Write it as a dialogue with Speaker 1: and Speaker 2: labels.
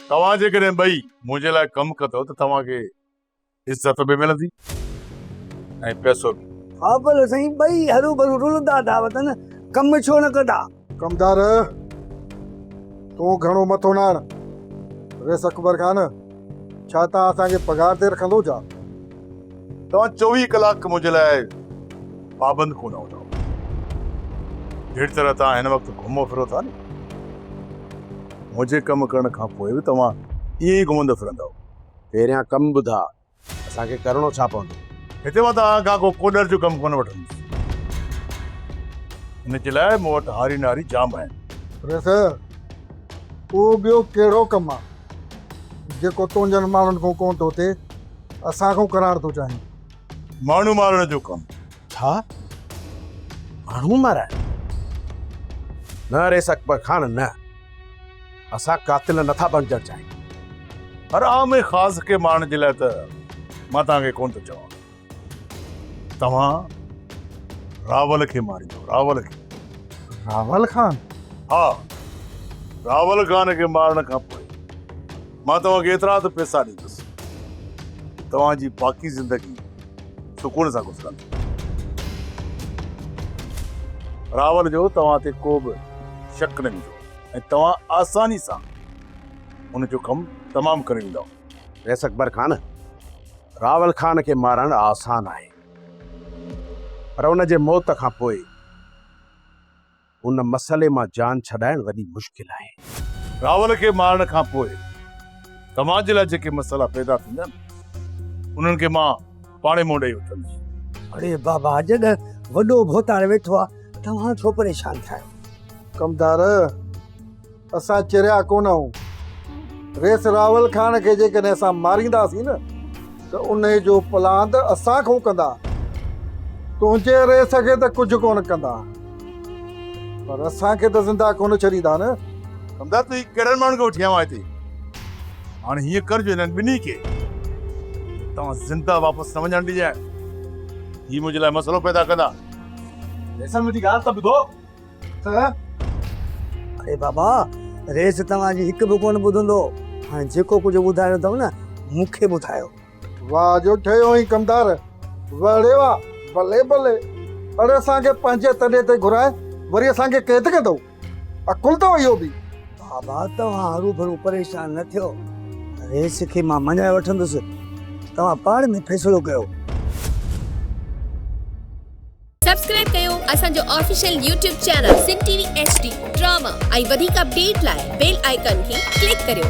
Speaker 1: توهان جيڪڏهن ٻئي منهنجي لاء ڪم ڪندؤ ته توهان کي عزت به ملندي ۽ پئسو به. ها پر سائين
Speaker 2: ٻئي هروڀرو رلندا ٿا وتن ڪم ڇو نه ڪندا. ڪمدار
Speaker 3: تون گهڻو مٿو نه هڻ. ريس اڪبر خان ڇا تان اسان کي پگهار تي رکندو ڇا؟
Speaker 1: توهان چوويهه ڪلاڪ منهنجي لاء پابند ڪونه هوندا جهڙي طرح توهان هن وقت گهمو ڦرو ٿا نه منهنجي ڪم ڪرڻ کان پوء به توهان ائين ئي گهمندا ڦرندا پهريان ڪم
Speaker 4: ٻڌا اسان کي ڪرڻو ڇا پوندو هتي مان توهان
Speaker 1: کان ڪو ڪوڏر جو ڪم ڪونه وٺندس ان جي لاء مون وٽ هاري ناري جام آهن ريس
Speaker 3: اهو ٻيو ڪهڙو ڪم آهي جيڪو تنهنجن ماڻهن کان ڪونه ٿو ٿئي اسان کان قرار ٿو چاهين ماڻهو مارڻ
Speaker 1: جو ڪم ڇا
Speaker 4: ماڻهو مارائڻ نه ريس اڪبر خان نه اسان قاتل نه ٿا بڻجڻ چاهيون پر عام خاص
Speaker 1: کي مارڻ جي لاء ته مان توهان کي ڪون ٿو چوان توهان راول کي ماريندو راول کي راول
Speaker 3: خان ها
Speaker 1: راول خان کي مارڻ کان پوء مان توهان کي ايترا ته پيسا ڏيندس، توهان جي باقي زندگي سڪون سان گذرندي. راول جو توهان تي ڪو به شڪ نه ويندو ۽ توهان آساني سان ان جو ڪم تمام ڪري ويندؤ. بيس اڪبر خان،
Speaker 4: راول خان کي مارڻ آسان آهي، پر ان جي موت کان پوء. ان مسئلي مان جان ڇڏائڻ وڏي مشڪل آهي. راول کي
Speaker 1: مارڻ کان پوء سماج جي لاء جيڪي مسئلا پيدا ٿيندا آهن، انهن کي مان پاڻهي منهن ڏئي وٺندس. اڙي بابا،
Speaker 2: جڏهن وڏو ڀوتار ويٺو آهي، توهان ڇو پريشان ٿيا آهيو؟ ڪمدار!
Speaker 3: اسان چريا ڪونه هون. ريس راول خان کي جيڪڏهن اسان مارينداسين نه ته انهي جو پلان ته اسان کان ڪندا. تنهنجي ريس کي ته ڪجهه ڪونه ڪندا. پر اسان کي ته زنده ڪونه ڇڏيندا نه. سمدا تون هي
Speaker 1: ڪهڙن ماڻهن کي وٺي آيو آهين هتي. هاڻي هيئن ڪر جو هنن ٻنهي کي اتان زنده واپس نه وڃڻ ڏجانء. هي منهنجي لاء مسئلو پيدا ڪندا. ريسن
Speaker 5: منهنجي ڳالهه ته ٻڌو.
Speaker 2: اڙي بابا ريس توهان جي هڪ به ڪونه ٻڌندو هاڻي جيڪو ڪجهه ٻڌايو اٿم نه مون کي ٻڌايو واهه جو
Speaker 3: ٺهيو آهين ڪمدار واهه ڙي واهه ڀلي ڀلي اڙي اسان کي پنهنجي تڏي تي گهرائي وري اسان کي قيد ڪندو عقل اٿو اهو به بابا توهان
Speaker 2: هرو ڀرو پريشان نه ٿيو ريس کي مان مڃائي وٺندس توهان پاڻ ۾ فيصلو ڪيو
Speaker 6: سبسڪرائب ڪيو اسان جو official YouTube channel Sindh T V H D drama ۽ وڌيڪ اپڊيٽ لاء بيل آئيڪان کي ڪلڪ ڪريو.